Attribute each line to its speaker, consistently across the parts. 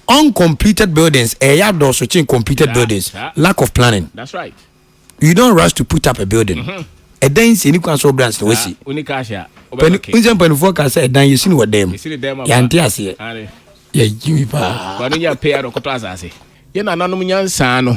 Speaker 1: Uncompleted buildings, eh, yeah, those who think completed yeah, buildings, yeah. lack of planning. That's right.
Speaker 2: You don't rush
Speaker 1: to put up a building. Mm-hmm. A dan si ni kwan so brands na wasi. Oni ka ahia.
Speaker 2: Pɛni nse mpanimfoɔ
Speaker 1: ka sɛ ɛdan yɛ si ni wɔ dan mu. Yante aseɛ. Yɛ jimi paa. Wani nya pay ano kɔtɔ
Speaker 2: asase. Yɛ nananom nyansa no.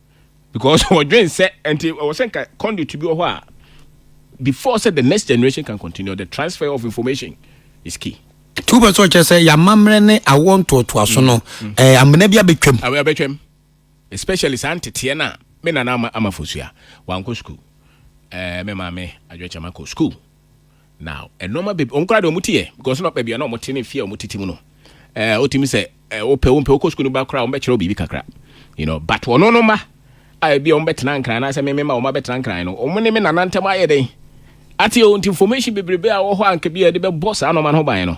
Speaker 2: Because wɔdwen sɛ nti ɛwɔ sɛ nka conduit bi wɔ hɔ a before sɛ the next generation can continue the transfer of information is key. Nti wopɛ sɛ ɔkyerɛ sɛ
Speaker 1: yɛamammerɛ ne awoɔ ntoatoaso no ɛɛ amena bi abɛtwam. Awo abɛtwam
Speaker 2: especially saa nteteɛ no a me nana ama ama fosua wankɔ sukuu ɛɛ me maame adwokyɛm akɔ sukuu. Na nneɛma bebree wɔn koraa deɛ wɔn ti yɛ because na baabi a na wɔn te ne fie a wɔn tete mu no ɛɛ eh, wotumi sɛ ɛɛ eh, wopɛ wompɛ wokɔ sukuu no ba koraa wɔn bɛkyerɛ wo biribi kakra you know but wɔn no ma a ebi a wɔn bɛtena nkran anaasɛ meme ma wɔn abɛtena nkran no wɔn ne me nana ntam ayɛ dɛn ate o nti information bebrebe a wɔ hɔ a nka bi a yɛde bɛbɔ saa nneɛma no ho ban no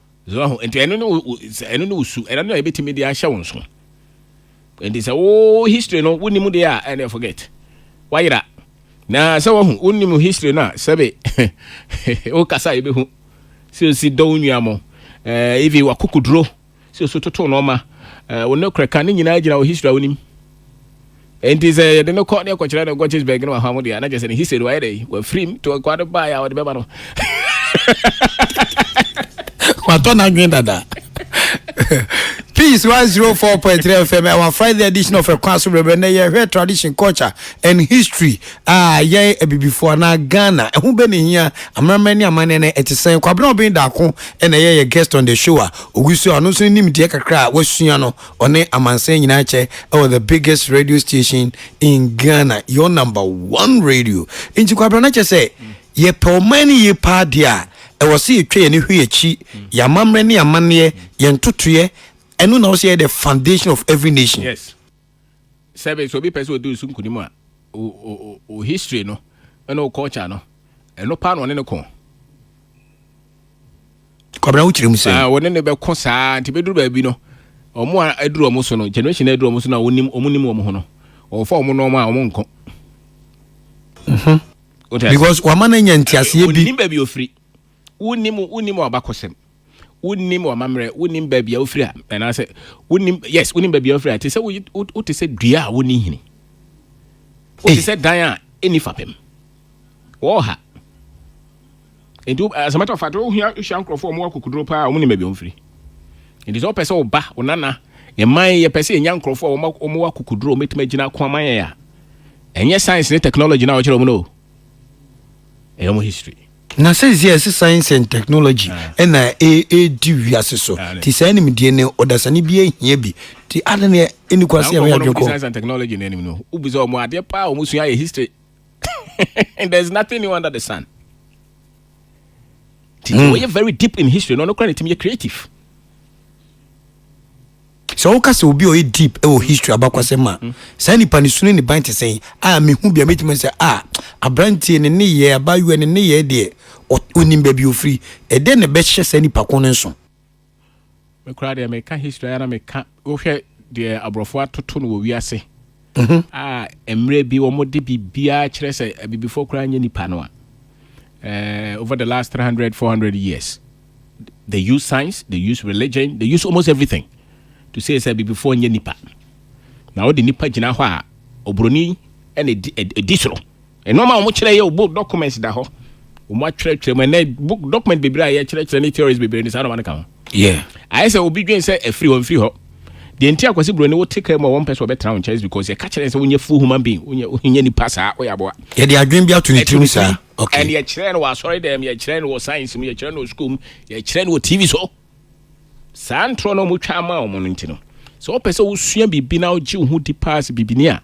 Speaker 2: So wahu? Nti ɛno ne wo ɛno ne wo su, ɛno na yɛbɛtumi de ahyɛ wo nso. Nti sɛ wo history no wonim deɛ a ɛne forget. Wayera. Na sɛ wahu wonim history no a sɛbe wokasa yɛbɛhu sɛ osi dɔ wo nua mo. Ɛɛ ivi wakokoduro sɛ osu toto nɔɔma. Ɛɛ wo ne korɛka ne nyinaa gyina wo history a wonim. Enti sɛ yɛde no kɔ na yɛkɔkyerɛ no Gottisberg no wɔ afa mu deɛ a, na kyerɛ sɛ ne hise no wayɛ dɛ, wafirim to akoa no baeɛ a wɔde bɛma no.
Speaker 1: Watɔ n'adwene dada. Peace 104.3 FM, our Friday edition of Ekwan So Brɛbrɛ. Nnɛ yɛhwɛ tradition, culture and history a yɛn abibifoɔ anaa Ghana ɛho bɛ ne hia amanaman ne amanneɛ no ɛte sɛn. Kwabena Ɔben Daako na ɛyɛ yɛ guest on the show a ɔgu so a ɔno nso ne nimdeɛ kakra a wasua no Ɔne amansan nyinaa kyɛ wɔ the biggest radio station in Ghana your number one radio nti kwabra na kyɛ sɛ yɛpɛ ɔman no yie paa deɛ a ɛwɔ sɛ yɛtwa yɛn hwe akyi yɛn amammerɛ ne amanneɛ yɛn ntotoeɛ ɛno na wɔ sɛ yɛ the foundation of every nation. Yes.
Speaker 2: Sɛbe sɛ obi pɛ sɛ ɔdi so nkunim a o history no ɛna o culture no ɛno paa na ɔne no kɔn.
Speaker 1: Kwabena wo kyerɛ mu sɛ. Ah, wɔne no bɛko saa
Speaker 2: nti bɛduru baabi no wɔn a aduru wɔn so no generation a aduru wɔn so no a wɔnim wɔn nim wɔn ho no wɔfa wɔn nneɛma a wɔn nko. Mhm.
Speaker 1: Because wɔama no anya nteaseɛ bi. Wɔnim baabi ofiri.
Speaker 2: Wonim wonim abakɔsɛm. Wonim amammerɛ. Wonim baabi a ofiri a anaasɛ wonim yes wonim baabi a ofiri a te sɛ wote sɛ dua a wɔnni hini. Wote sɛ dan a ɛnni fapem. Wɔha. Nti as a matter of fact wohia hyia nkurɔfoɔ a wɔwɔ akokoduro paa a wɔnim baabi a wɔfiri. Nti sɛ wopɛ sɛ wo ba, wo nana, mman yɛpɛ sɛ yɛnya nkurɔfoɔ a wɔma- wɔwɔ akokoduro a wɔbɛtumi agyina ako ama yɛn a, ɛnyɛ science ne technology no a wɔkyerɛ wɔn no o. Ɛyɛ wɔn history. na sɛsi a ɛsɛ
Speaker 1: science and technology Ah. ɛna ɛ- ɛdi wiase so Ah, ne. nti saa nimdeɛ no ɔdasani bi ahia bi nti ade ne ɛni kwa Saa sɛ yɛho nkurɔfoɔ no yɛadwene kɔ science and technology no anim
Speaker 2: no, wobisa wɔn adeɛ paa a wɔsua yɛ history there's nothing new under the sun nti mm. wɔyɛ very deep in history na ɔno kora ne tumi yɛ creative
Speaker 1: sɛ woka sɛ obi ɔyɛ deep wɔ history abakwasɛm ma mm. saa nipa ne sunu ne ban te sɛn a mehu bia mɛtumi sɛ a aberanteɛ ne nneyɛ abayewa ne nneyɛ deɛ ɔnim baabi ɔfiri ɛdɛn na ɛbɛhyɛ saa nipa ko no nso
Speaker 2: Me koraa deɛ meka history ara na meka wohwɛ deɛ aborɔfo atoto no wɔ wiase mhm. a mmerɛ bi wɔde biribiara kyerɛ sɛ abibifoɔ koraa nyɛ nipa no a eh, over the last 300 400 years they use science they use religion they use almost everything to say sɛ abibifoɔ nyɛ nipa na wode nipa gyina hɔ a oburoni ɛna ɛdi soro Nnoɔma a wɔn kyerɛ yɛ o book documents da hɔ. Wɔn atwerɛtwerɛ mu ɛnɛ book document bebree a yɛkyerɛkyerɛ ne theories bebree ne saa nnoɔma no ka ho. Yeah. Ayɛ
Speaker 1: sɛ obi dwen
Speaker 2: sɛ ɛfiri hɔ mfiri hɔ. Deɛ nti a Kwasi Broni wote kaa mu a wɔmpɛ sɛ wɔbɛtra wo nkyɛn is because yɛka kyerɛ sɛ wonyɛ full human being, wonyɛ wonyɛ nipa saa, woyɛ aboa. Yɛde adwene bi ato
Speaker 1: ne tirim saa. Okay. And yɛkyerɛ no wɔ asɔre
Speaker 2: dɛm, yɛkyerɛ no wɔ science mu, yɛkyerɛ no wɔ school mu, yɛkyerɛ no wɔ TV so. Saa ntorɔ no a wɔtwa ama wɔn no nti no, sɛ wopɛ sɛ wosua biribi na wogye wo ho di paa sɛ bibini a,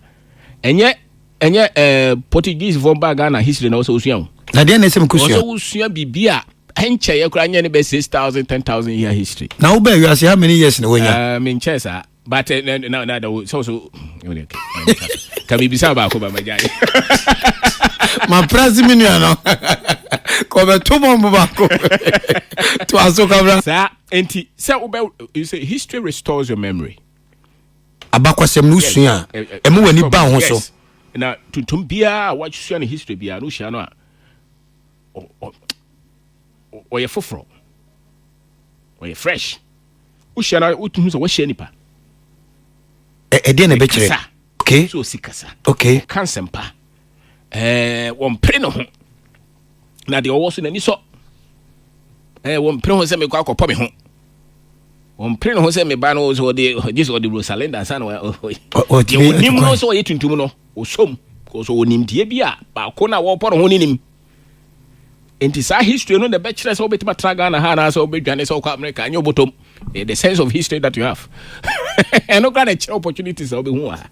Speaker 2: ɛnyɛ Ɛnyɛ ɛɛ Portuguesefoɔ baa Ghana history na ɔsɛ osua o. Na deɛ na ɛsɛ mekɔ sua. Ɔsɛ
Speaker 1: wosua biribi a
Speaker 2: ɛnkyɛeɛ koraa nyɛ ne bɛ six thousand ten thousand year history. Na wobaa wiase how many
Speaker 1: years na wanya? Uh, menkyɛɛ saa
Speaker 2: but eh, na na na da wo sɛ so ka mebisa baako ba magyae.
Speaker 1: Maprase me nua no. Kɔbɛto bɔmbo baako. To aso kabra. Saa enti
Speaker 2: sɛ wobɛ you say history restores your memory.
Speaker 1: abakɔsɛm no wosua a, ɛma w'ani ba wo ho so. Na tuntum
Speaker 2: biara a wasua ne history biara no wohyia no a, ɔyɛ foforɔ, ɔyɛ fresh. Wohyia no a, wotuhu sɛ wahyia nipa.
Speaker 1: Ɛdeɛ na ɛbɛkyerɛ? Okay. So ɔsi kasa.
Speaker 2: Okay. Ɔka nsɛmpa. ɛɛ wɔmpere ne ho na deɛ ɔwɔ so n'ani sɔ ɛɛ wɔmpere ho sɛ mekɔ akɔpɔ me ho wɔmpere ne ho sɛ meba no sɛ ɔde gye sɛ ɔde rosalenda ansa na ɔnim no sɛ ɔyɛ tuntum no ɔsɔm kɔsɛ ɔnimdeɛ bi a baako no a wɔpɔ ne ho no nim nti saa history no na ɛbɛkyerɛ sɛ wobɛtumi atra ghana ha anaasɛ wobɛdwane sɛ wokɔ america ɛnyɛ wobɔtɔm eh, the sense of history that you have ɛno kora na ɛkyerɛ opportunities a wobɛhu wɔ ha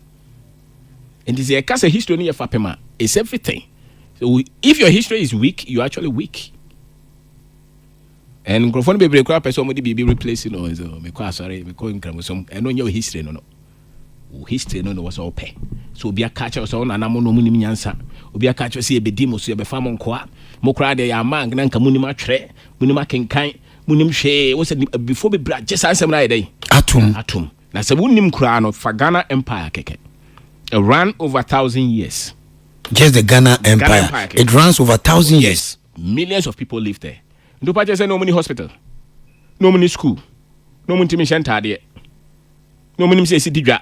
Speaker 2: nti sɛ yɛka sɛ history no yɛ fapem a it's everything so if your history is weak you actually weak and nkurɔfoɔ no bebree koraa pɛ sɛ wɔde biribi replace no so mekɔ asɔre mekɔ nkramosom ɛno nyɛ history no no Wo history no na ɛwɔ sɛ wopɛ. Sɛ obi aka akyerɛ wo sɛ wo nananom na wɔnim nyansa, obi aka akyerɛ wo sɛ yɛbɛdi mo so, yɛbɛfa mo nkoa, mo koraa deɛ yɛamma anka na anka monim atwerɛ, monim akenkan, monim hwee. Wo sɛ abibifoɔ bebree agye saa nsɛm no ayɛ dɛn? Atom. Atom. Na sɛ wonim koraa no, fa Ghana Empire kɛkɛ. It ran over thousand years. Just the Ghana
Speaker 1: Empire. Ghana Empire It runs over thousand years. Millions of people
Speaker 2: live there. Nti wopɛ akyerɛ sɛ na wɔn ni hospital, na wɔn ni school, na wɔn ntumi nhyɛ ntaadeɛ. na wɔn nim sɛ esi di dwa.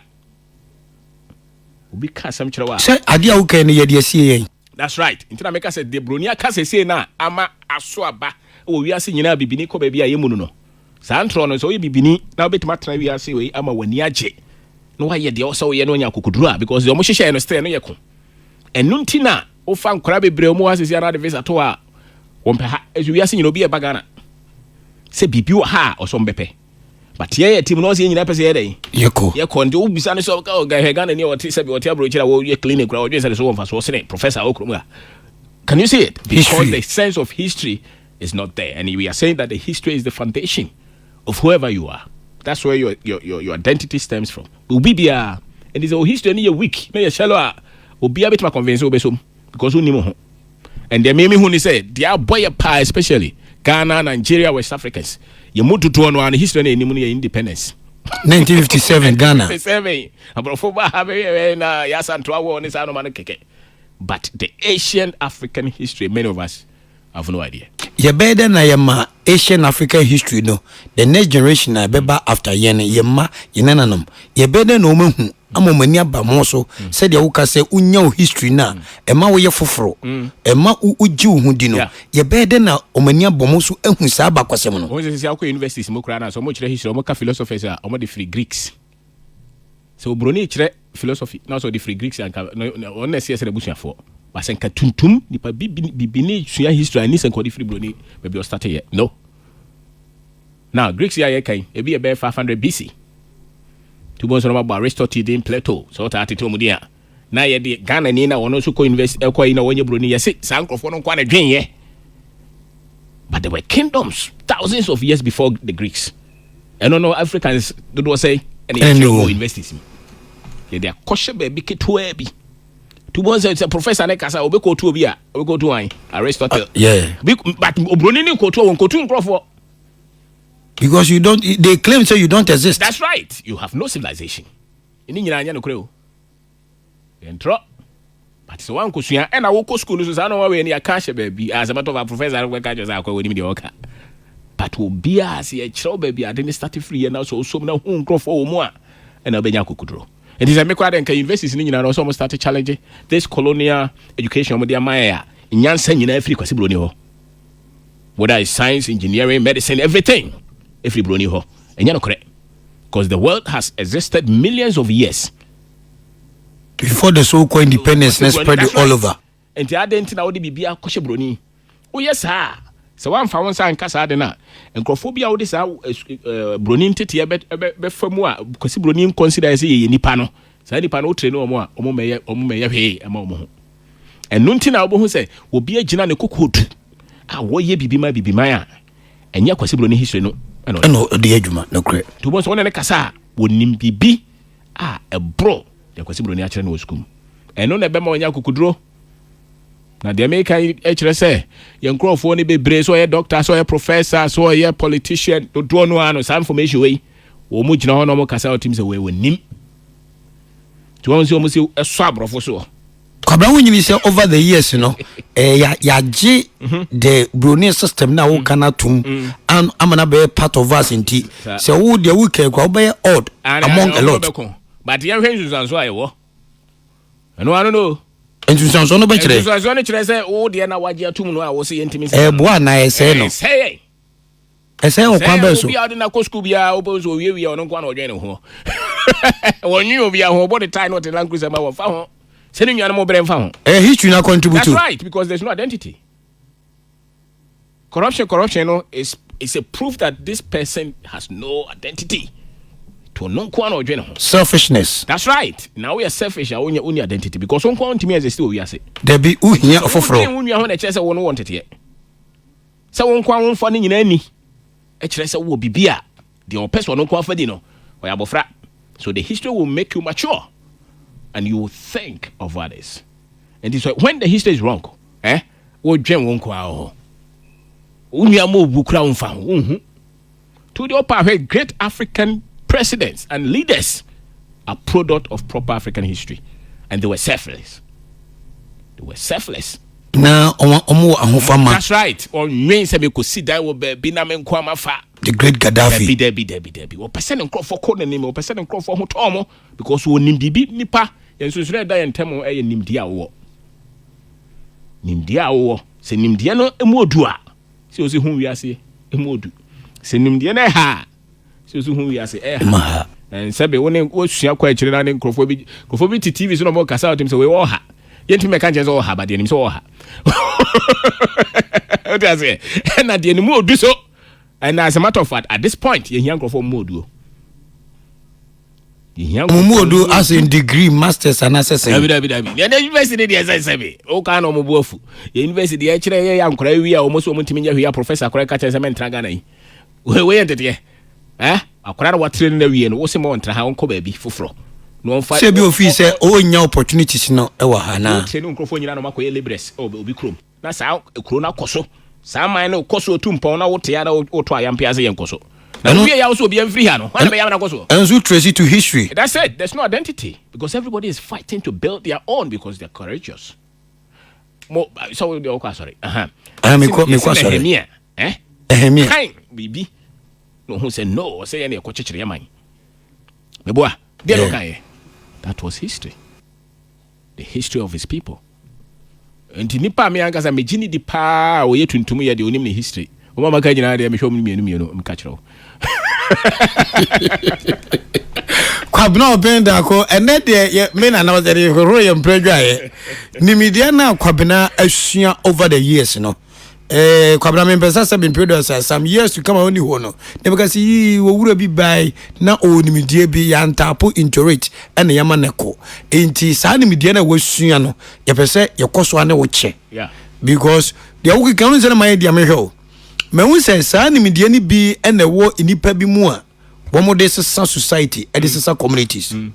Speaker 2: Obi ka asɛm kyerɛ wo a. Sɛ ade a wokae no yɛ
Speaker 1: de asie yɛn. That's right. Nti na meka
Speaker 2: sɛ deɛ broni aka sɛsei no a ama aso aba wɔ wiase nyinaa bibini kɔ baabi a yɛ mu no no. Saa ntorɔ no sɛ woyɛ bibini na wobɛtumi atena wiase wei ama w'ani agye na woayɛ deɛ ɔsɛ woyɛ na woanya akokoduro a because deɛ wɔhyehyɛɛ no still no yɛ ko. Ɛno nti na wofa nkora bebree wɔn wɔ ha sɛsei a na de visa to a wɔmpɛ ha. Ɛso wiase nyinaa obi ɛba Ghana sɛ biribi wɔ ha a ɔsɛ wɔn bɛpɛ. But yɛyɛ team no ɔsɛ yɛn nyinaa pɛ sɛ yɛ dɛn? Yɛkɔ. Yɛkɔ nti wobisa no sɛ hwɛ Ghana ni a ɔte sɛ bi ɔte aburokyiri a wɔyɛ clinic koraa ɔdwen sɛ ne so wɔ mfasoɔ sene professor a ɔwɔ kurom ha. Can you see it? Because history. the sense of history is not there and we are saying that the history is the foundation of whoever you are. That's where your, your, your, your identity stems from. Obi biara ɛnti sɛ o history no yɛ weak na yɛ shallow a obiara bɛtumi aconvince wobɛsom because wonim ho. And deɛ me mehu ni sɛ deɛ abɔ yɛ paa especially Ghana, Nigeria, West Africans yɛ mu dodoɔ no a ne history na yɛnim no yɛ independence. 1957
Speaker 1: Ghana. 57 aborɔfo
Speaker 2: ba ha bɛyɛ na yɛ asantoa wɔ ne saa noma no kɛkɛ but the Asian African history many of us have no idea. Yɛbɛyɛ dɛ na yɛma
Speaker 1: Asian African history no the next generation a ɛbɛba after yɛn no, yɛn mma, yɛn nananom, yɛbɛyɛ dɛn na wɔn ahu ama wɔn ani aba mo so sɛdeɛ woka sɛ wonya wo history no a ɛma woyɛ foforo ɛma wo wogye wo ho di no yɛbɛyɛ dɛn na wɔn ani abɔ mo so ahu saa abakwasɛm no. Wɔn sɛ sisi akɔ universities
Speaker 2: mu koraa na sɛ wɔn kyerɛ history wɔn ka philosophers a wɔn de firi Greeks. Sɛ oburoni rekyerɛ philosophy na ɔsɛ ɔde firi Greeks anka ɔno na ɛsɛ yɛsɛ n'abusuafoɔ. Ba sɛ nka tuntum nipa bibini bibini sua history ani sɛ nka ɔde firi buroni baabi ɔstate yɛ. No. Now Greeks yi a yɛka yi ebi yɛ bɛyɛ 500 BC. Tubo nso no mabɔ Aristotle din Plato sɛ ɔtaa tete wɔn din a. na yɛde Ghana ni na wɔn nso kɔ university ɛkɔ eh, yi na wɔnyɛ buroni yɛsi saa nkorɔfoɔ no nko na dwen yɛ but there were kingdoms thousands of years before the Greeks ɛno no Africans dodoɔ sɛ ɛna yɛkyerɛ wɔ universities mu yɛde akɔhyɛ baabi ketewa bi tubu nsɛ sɛ professor ne kasa obi kɔ otu obi a obi kɔ otu wɔn Aristotle uh, yeah.
Speaker 1: but oburoni
Speaker 2: ne kɔ otu wɔn kɔ otu nkorɔfoɔ.
Speaker 1: because you don't they claim say you don't exist.
Speaker 2: that's
Speaker 1: right
Speaker 2: you have no
Speaker 1: civilization.
Speaker 2: Ne nyinaa nyɛ nokorɛ o. Yɛntorɔ. But sɛ woankɔsua ɛna wokɔ school no so saa na wɔn awɛ ni aka ahyɛ baabi as a matter of fact professor no bɛka kyerɛ sɛ akɔ wɔnim deɛ ɔka but obiara sɛ yɛkyerɛw baabi ade ne start firi yɛ na sɛ ɔsom na hu nkurɔfoɔ wɔ mu a ɛna wobɛnya akokoduro nti sɛ mekora dɛ nka universities no nyinaa na ɔsɛ ɔmo start challenge this colonial education ɔmo de ama yɛ a nyansa nyinaa firi kwasi buroni hɔ whether it's science engineering medicine everything ɛfiri buroni hɔ ɛnyɛ nokorɛ cause the world has existed millions of years
Speaker 1: before the so called independence na spread it all over. Nti adɛn nti na
Speaker 2: wode biribi akɔhyɛ buroni? Woyɛ saa a, sɛ woamfa wo nsa anka saa ade no a, nkurɔfoɔ bi a wode saa buroni nteteɛ bɛfa mu a, kwasi buroni nkɔnsida yɛ sɛ yɛyɛ nipa no, saa nipa no wotrɛ ne wɔn a, wɔn mmɛyɛ wɔn mmɛyɛ hwee ɛma wɔn ho. Ɛno nti na wobɛhu sɛ obi agyina ne kokoɔdu a wɔyɛ bibi ma bibi man a, Ɛnyɛ Kwasi Bro ne history no ɛna ɔde yɛ adwuma nokorɛ.
Speaker 1: Nti wobɛhu sɛ wo ne no kasa a
Speaker 2: ɔnim biribi a ɛboro deɛ Kwasi Buroni akyerɛ no wɔ sukuu mu. Ɛno na ɛbɛma wanya akokoduro. Na deɛ meka yi kyerɛ sɛ yɛn nkurɔfoɔ no bebree sɛ ɔyɛ doctor sɛ ɔyɛ professor sɛ ɔyɛ politician dodoɔ no ara no saa information wei wɔn gyina hɔ na wɔkasa wɔtim sɛ wei wɔnim. Nti wɔn sɛ wɔn si ɛsɔ aborɔfo soɔ. kwabena wo nyini
Speaker 1: sɛ over the years no eh, ya- yɛagye the broni system no a woka no atom an- ama no bɛyɛ part of us nti Sa- sɛ wo deɛ wokae kora wobɛyɛ odd Ana- among a ana lot wobɛko. but yɛnhwɛ nsunsuanso
Speaker 2: a ɛwɔ ɛno ano no nsunsuansoɔ no
Speaker 1: bɛkyerɛ nsunsuansoɔ no kyerɛ sɛ wo
Speaker 2: deɛ na wagye atom no a wo sɛ yɛntimi ɛboa anaa ɛsɛe no
Speaker 1: ɛsɛe
Speaker 2: Ɛsɛe
Speaker 1: ɔkwan bɛn so? Obi a ɔde no akɔ sukuu biara,
Speaker 2: wopɛ nso ɔwiewie a ɔno nko ara na ɔdwene ne ho. Wɔnwene obiara ho, ɔbɔ ne tae na ɔte Land Cruiser ma wɔmfa ho sɛ ne nuanom brɛ mfa ho. Ɛyɛ history na contribute.
Speaker 1: That's right, because there's no
Speaker 2: identity. Corruption, corruption no is, is a proof that this person has no identity. To ɔno nko ara na ɔdwene ho. Selfishness. That's
Speaker 1: right. Na
Speaker 2: woyɛ selfish a wonya wonni identity because wo nko ara ntumi exist wɔ wiase. Dabi, wohia
Speaker 1: ɔfoforɔ. Wo nua ho na ɛkyerɛ sɛ wo no wɔ
Speaker 2: nteteɛ. Sɛ wo nkoa womfa ne nyinaa nni, ɛkyerɛ sɛ wowɔ biribi a deɛ ɔpɛ sɛ ɔno nkoa fa di no, ɔyɛ abɔfra. So the history will make you mature and you will think of others? Enti sɛ when the history is wrong, eh, wodwen wo nkoa ho. Wo nua ma owu koraa womfa ho, wonhu. To the upper hwɛ Great African Presidents and Leaders are product of proper African history and they were selfless. They were selfless.
Speaker 1: Na wɔn wɔ ahofama.
Speaker 2: That's right. Wɔnwen sɛ mekɔsi dan wɔ baabi na me nko ama fa. The Great Gaddafi.
Speaker 1: Dabi dabi dabi dabi. Wɔpɛ
Speaker 2: sɛ ne nkurɔfoɔ kɔ n'anim. Wɔpɛ sɛ ne nkurɔfoɔ ho tɔɔ mo because wɔnim biribi nipa. Yɛn nsunsunu ɛda yɛn ntam ɛyɛ nimdeɛ a wowɔ. Nimdeɛ a wowɔ. Sɛ nimdeɛ no mu odu a. Sɛ osi hu wiase mu odu. Sɛ nimdeɛ no ɛha a. Sɛ osi hu wiase ɛha. Sɛbe wo ne wosua kɔ akyire na ne nkurɔfoɔ bi nkurɔfoɔ bi te TV so na wɔn kasa a wɔtumi sɛ wei ɔha. Yɛntumi mɛka nkyɛn sɛ ɔha ba deɛ nim sɛ ɔha. Wote aseɛ? Ɛna deɛ ne mu odu so. And as a matter of fact, at this point, yɛhia nkurɔfoɔ mu oduo.
Speaker 1: Wɔn mu odu asen degree masters anaasɛ sɛ. dabi dabi dabi deɛ deɛ university
Speaker 2: de deɛ sɛn sɛbi o kan na wɔn bu afu deɛ university deɛ ɛkyerɛ yɛ yɛ ankora ewi a wɔn so wɔn ntumi nyɛ hwee a professor akora ɛka kyɛn sɛ mɛntra Ghana yi wei wei yɛ nteteɛ ɛɛ akora na watire no na wie no wɔsi mo ntra ha wɔn kɔ baabi foforɔ na wɔn fa. sɛ bi ofi sɛ o nya
Speaker 1: opportunities no ɛwɔ ha naa. wɔn tire ne nkurɔfoɔ nyinaa na wɔn akɔ
Speaker 2: yɛ labourers ɛwɔ obi kurom. Na saa kuro no akɔ so, saa man no kɔ so tu mpɔn na wote ara woto ayam pia sɛ yɛn kɔ so. Na wowie yaw so obiara mfiri ha no, hwan na bɛyam na akɔ so? Ɛnso trace to history.
Speaker 1: That's it, there's no
Speaker 2: identity because everybody is fighting to build their own because they're courageous. Mo, sɛ wo deɛ wokɔ asɔre, aha. Ah, mekɔ asɔre. Nehemia, eh? Nehemia. Kain, biribi. Na ɔhu sɛ no, ɔsɛ yɛ na yɛkɔ kyekyere yɛ man. Meboa, deɛ na ɔkaeɛ. That was history. The history of his people. Nti nipa a me ankasa megye ne di paa a ɔyɛ tuntum yɛ deɛ ɔnim ne history. Wɔn a maka nyinaa deɛ mehwɛ wɔn mmienu mmienu meka kyerɛ wo.
Speaker 1: Kwabena ɔbɛn daako ɛnɛ deɛ yɛ me na na ɔsɛ de hohoro yɛ mpere adwaeɛ. Nimideɛ no a Kwabena asua over the years no. Eh, Kwabena mempɛ sɛ sɛ mempere dɔ sɛ some years to come a ɔni hɔ no na bɛka sɛ yii wɔwura bi bae na ɔwɔ nimdeɛ bi yɛantaapo into it ɛna yɛma no kɔ enti saa nimdeɛ no a wasua no yɛpɛ sɛ yɛkɔ so a ne wo kyɛ because deɛ wokeka no sɛ na mayɛ deɛ mehwɛ o mahu sɛ saa nimdeɛ no bi ɛna ɛwɔ nnipa bi mu a wɔn de sesa society ɛde mm. sesa communities mm.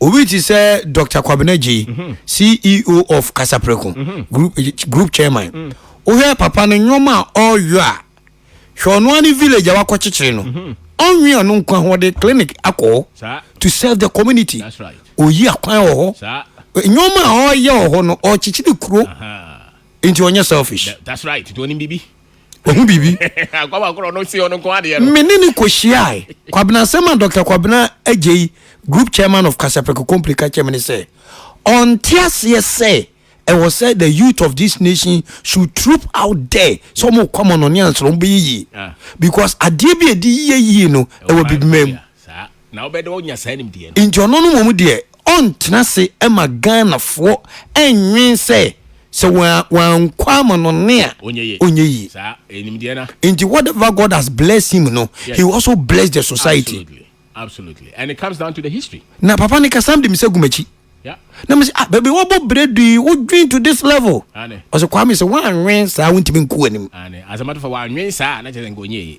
Speaker 1: obi ti sɛ dr kwabena gye mm-hmm. ceo of kasapreko mm-hmm. group group chairman mm. wohwɛ papa no nneɛma a ɔyɔ a hwɛ ɔno ne village a wakɔ kyekyere no mm-hmm. ɔnwe ɔno nkwa ho ɔde clinic akɔ
Speaker 2: to
Speaker 1: serve the community oyi
Speaker 2: akwan
Speaker 1: wɔ hɔ nneɛma a ɔyɛ wɔ hɔ no ɔkyekyere kuro nti ɔnyɛ selfish. that's right nti onim bibi.
Speaker 2: Wahu biribi. Me ne no kɔhyiae.
Speaker 1: Kwabena asɛm a Dɔkta Kwabena Agyei, Group Chairman of Kasapreko Company ka kyerɛ me ne sɛ, ɔnte aseɛ sɛ ɛwɔ sɛ the youth of this nation should troop out there sɛ wɔn kɔ amɔnɔne ansa wɔn bɛyɛ yie because adeɛ bi a ɛdi yie yie no ɛwɔ bibima mu. Na wobɛyɛ dɛ
Speaker 2: woanya saa nimdeɛ no. Nti ɔno no mmom deɛ
Speaker 1: ɔntena ase ma Ghanafoɔ nnwen sɛ sɛ wankɔ amanɔne a ɔnyɛ yie.
Speaker 2: Nti whatever God has
Speaker 1: blessed him no, he will also bless the society.
Speaker 2: Na papa no kasa no de
Speaker 1: me sɛ gu m'akyi. Na me sɛ
Speaker 2: ah baby
Speaker 1: wabɔ berɛ du yi wodwen to this level. Ɔsɛ Kwame sɛ woanwen saa wontumi nku anim. As a matter of fact
Speaker 2: wanwen saa na kyerɛ sɛ nka ɔnyɛ yie.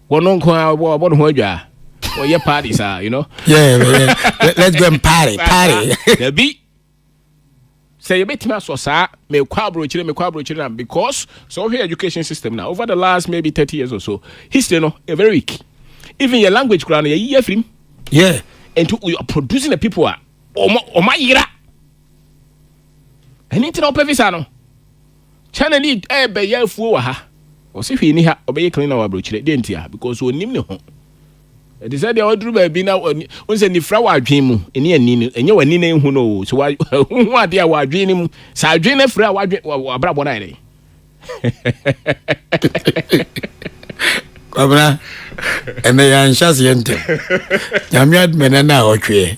Speaker 2: Wɔn no nko ara wɔbɔ ne ho adwa. Wɔyɛ party saa, you know. Yeah, yeah.
Speaker 1: Let's go and party, party. Dabi.
Speaker 2: Sɛ yɛbɛtumi asɔ saa mekɔ aburokyire mekɔ aburokyire na because sɛ wohwɛ education system na over the last maybe thirty years or so history no yɛ very weak even yɛ language koraa no yɛyi yɛ afirim. Yeah.
Speaker 1: Nti we are
Speaker 2: producing the people a wɔn ayera. Ɛni ntina wɔpɛ visa no. China ni ɛɛbɛyɛ afuo wɔ ha. Ɔse hwee ni ha, ɔbɛyɛ cleaner wɔ abrokyire. Deɛ ntia? Because ɔnim ne ho. Ɛte sɛ deɛ ɔduru baabi na ɔhu sɛ nifra wɔ adwene mu, ɛni ani no, ɛnyɛ w'ani na ɛhu no o. So wohu adeɛ a wɔ adwene no mu, sɛ adwene no afiri a w'adwene, w'abrabɔ no ayɛ dɛn?
Speaker 1: Kwabena, ɛnɛ yɛanhyɛ aseɛ ntɛm. Nyame adom ɛnɛ na ɔtweɛ.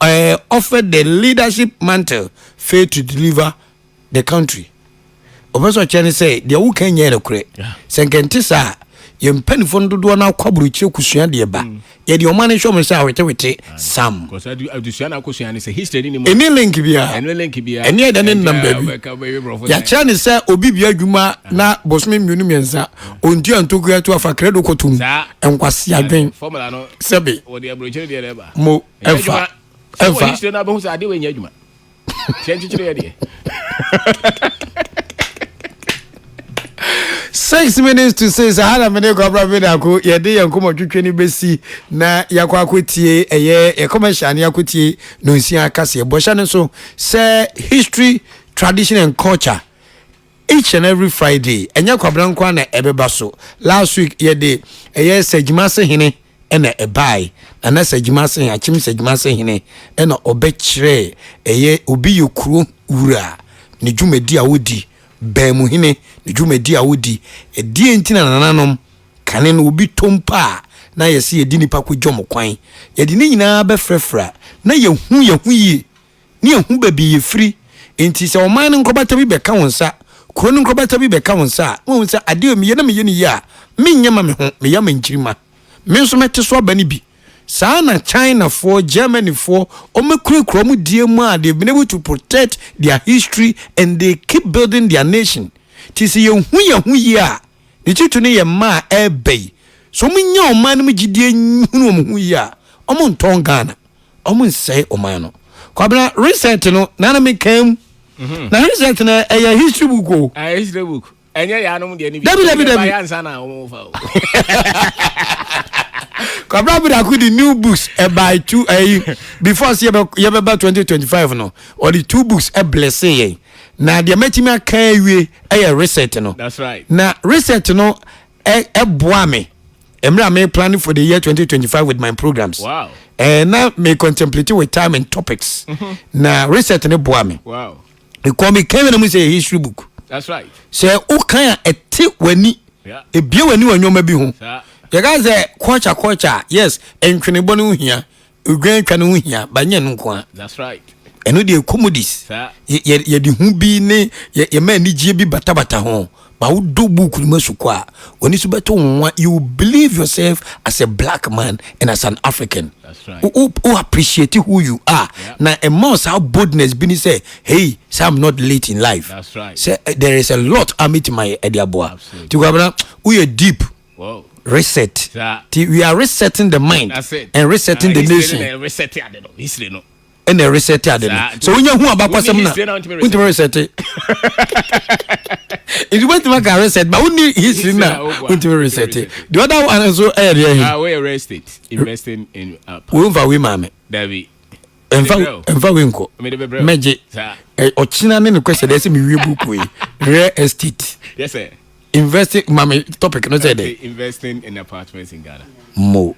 Speaker 1: Ɔyɛ ɔfɛ the leadership mantle fail to deliver the country ɔpɛ sɛ ɔkyɛ ne sɛ deɛ woka nyɛ nokorɛ sɛ nka nte saa a yɛn mpanimfoɔ no dodoɔ no akɔ aburokyire kosua deɛ ba mm. yɛde ɔma no nhwɛ mo sɛ awetewete sam
Speaker 2: ɛne link biara
Speaker 1: ɛne ɛda ne nnam baabi yɛakyerɛ ne sɛ obi bia adwuma ah. na bosome mmienu mmiɛnsa ɔntua ntokua to afa krɛdo kɔtom nkwase adwen sɛbe
Speaker 2: mo ɛnfa
Speaker 1: ɛnfa wɔ history na
Speaker 2: abɛhu sɛ adeɛ wɔ nyɛ adwuma
Speaker 1: hyɛ nkyekyere yɛ deɛ six minutes to six aha na mene kwabra me dako yɛde yɛn nkɔmmɔtwetwe no bɛsi na yɛakɔ akɔtie ɛyɛ yɛ commercial ne yɛakɔtie no nsia kaseɛ bɔhyɛ no nso sɛ history tradition and culture each and every friday ɛnyɛ kwabra nkoa na ɛbɛba so last week yɛde ɛyɛ sɛ gyima se hene ɛna ɛbae na na Sagyimase he, Akyem Sagyimase hene, ɛna ɔbɛkyerɛɛ ɛyɛ obi yɛ kuro wura ne dwumadi a odi, baamu hene ne dwumadi a odi, ɛdeɛ nti na nananom kane no obi tɔ mpo a na yɛse yɛde nipa kɔgya ɔmo kwan, yɛde ne nyinaa bɛfrɛfra na yɛhu yɛho yie ne ɛhu baabi yɛfiri. Enti sɛ ɔman no nkorbata bi bɛka wo nsa, kuro no nkorbata bi bɛka wo nsa a, na wahu sɛ adeɛ a meyɛ na meyɛ no yie a, menyɛ ma me ho, meyɛ ama nkyirimma. Me nso mɛte so aba no bi. Saa ara na Chinafoɔ, Germanyfoɔ, wɔkurakura wɔn deɛ mu a they've been able to protect their history and they keep building their nation. Nti sɛ yɛhu yɛn ho yie a, Ne titiriw no yɛ mma a ɛreba yi, sɛ wɔn nya ɔman no mu gyidie hunu wɔn ho yie a, wɔn ntɔn Ghana, wɔn nsɛe ɔman no. Kwabena, recent no na na me kan mu, na recent no ɛyɛ history book o. Ah, history book.
Speaker 2: Ɛnyɛ yɛ anom deɛ ne bi. Dabi, dabi, dabi. Ɛyɛ ansa na
Speaker 1: wɔn fa
Speaker 2: o.
Speaker 1: kwabra bidako de new books ɛbae eh, two ɛyi eh, before sɛ yɛbɛba twenty twenty five no ɔde two books ɛblɛse eh, yɛn. na deɛ mɛtumi aka awie yɛ reset no na reset
Speaker 2: no
Speaker 1: ɛboa me mmerɛ a me planning for the year 2025 with my programs wow. eh, na
Speaker 2: me
Speaker 1: contemplate with time and topics mm -hmm. na reset no boa me wow. because
Speaker 2: me kan
Speaker 1: na mu sɛ history book That's right.
Speaker 2: sɛ wokan a
Speaker 1: ɛte w'ani ebie w'ani
Speaker 2: wɔ nneɛma bi
Speaker 1: ho yɛka sɛ kɔɔkya kɔɔkya yes ntwenebɔ no ho hia Odwan twa no ho hia ba nyɛ no nko a. That's right.
Speaker 2: Ɛno deɛ comedies.
Speaker 1: Saa. Yɛde hu bi ne yɛma anigyeɛ bi batabata ho. Ma wodɔ book no mu asukɔ a, w'ani so bɛto nwa. You believe yourself as a black man and as an African. That's right. Wo,
Speaker 2: wo appreciate
Speaker 1: who you are. Yeah. Na ɛma wo saa boldness bi ni sɛ, hey, sɛ I'm not late in life. That's right. Sɛ eh,
Speaker 2: there is a
Speaker 1: lot a mɛtumi ayɛ ɛde aboa. Absolutely. Ti kwabena,
Speaker 2: woyɛ
Speaker 1: deep. Reset
Speaker 2: nti
Speaker 1: we are
Speaker 2: resetting
Speaker 1: the mind and resetting
Speaker 2: the nation ɛna ɛresɛte
Speaker 1: ade no sɛ wonya hu abakwasɛm na wontumi resɛte nti wontumi aka reset ba wonni history na wontumi resɛte the other one nso ɛyɛ deɛ he
Speaker 2: womfa wei maa me
Speaker 1: ɛmfa wei nkɔ mɛgye ɔkyena ne nokwɛhyɛ dɛ sɛ mewie buku yi real estate
Speaker 2: investing mame
Speaker 1: topic no sɛ dɛ investing in apartments
Speaker 2: in ghana mo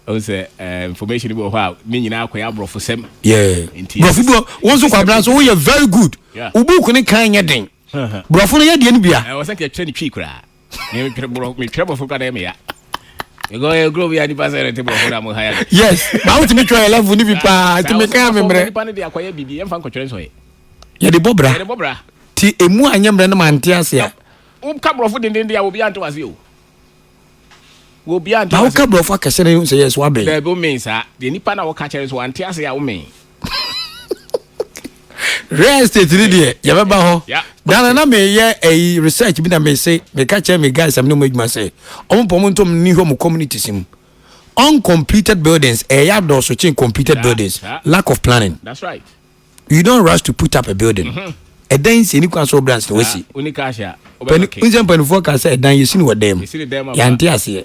Speaker 2: ɔn
Speaker 1: sɛ
Speaker 2: eh, information bi wɔ hɔ a ne nyinaa akɔyɛ aborɔfo sɛm borɔfo
Speaker 1: bi wɔn nso kwabena so woyɛ very good wo buku ne kan nyɛ den borɔfo no yɛ deɛ no bia ɛwɔ sɛ nka ɛtwerɛ ne twi koraa
Speaker 2: Me me twerɛ borɔ me twerɛ borɔfo kura na yɛ me ya. Because yɛ kuro bi a nipa sɛ yɛrɛ te borɔfo na mo ha ya. Yes, maa mo ti mi
Speaker 1: twerɛ yɛ level ni bi paa, ti mi kan mi mmerɛ. Nipa ne de akɔyɛ bibi, yɛn fa
Speaker 2: nkɔtwerɛ nsɔ yɛ. Yɛ de bɔ bra. Yɛ
Speaker 1: de bɔ bra. Ti
Speaker 2: emu a nyɛ
Speaker 1: mmerɛ no ma nte ase a. Wo ka borɔfo denden
Speaker 2: de a obi ante wase o. Wo bi ante wase. Ba wo ka borɔfo akɛse
Speaker 1: na yɛ nsɛ yɛ so abɛn. Dɛbi o men saa, de
Speaker 2: nipa na wo ka kyerɛ so ante ase a o men.
Speaker 1: real estate ni deɛ yɛbɛba hɔ dana na meyɛ ɛyi eh, research bi na mese meka kyerɛ me guys am ne mu adwuma sɛ ɔmo pɔ ɔmo ntom ni hɔ mo communities mu uncompleted buildings ɛyɛ eh, adɔɔso kyen completed yeah, buildings yeah. lack of planning that's right
Speaker 2: you don't rush
Speaker 1: to put up a building mm -hmm. ɛdan nsi ni kwan so branch na wasi
Speaker 2: nsɛm mpanimfoɔ
Speaker 1: ka sɛ ɛdan yɛsi ni wɔ dɛm yɛante aseɛ